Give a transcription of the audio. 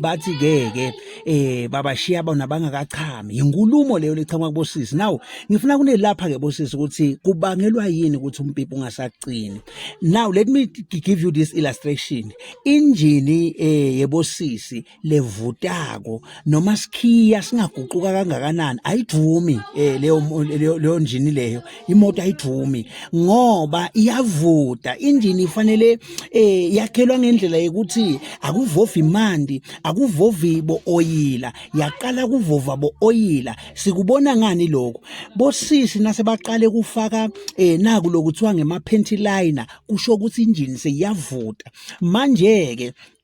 bathi ke ke eh babashiya bona bangakachami inkulumo leyo lechama kubosisi now ngifuna kunelapha ke bosisi ukuthi kubangelwa yini ukuthi umpipi ungasaqini now let me give you this illustration injini eh yebosisi levutako noma sikhiya singaguquka kangakanani ayivumi eh leyo leyo njini leyo imoto ayijumi ngoba iyavuda injini ifanele eh yakhelwa ngendlela yokuthi akuvovi imandi akuvovi bo oyila yaqala kuvova bo oyila sikubona ngani lokho bosisi nase baqale kufaka eh naku lokuthiwa ngema panty liner kusho ukuthi injini seyiyavuda manje ke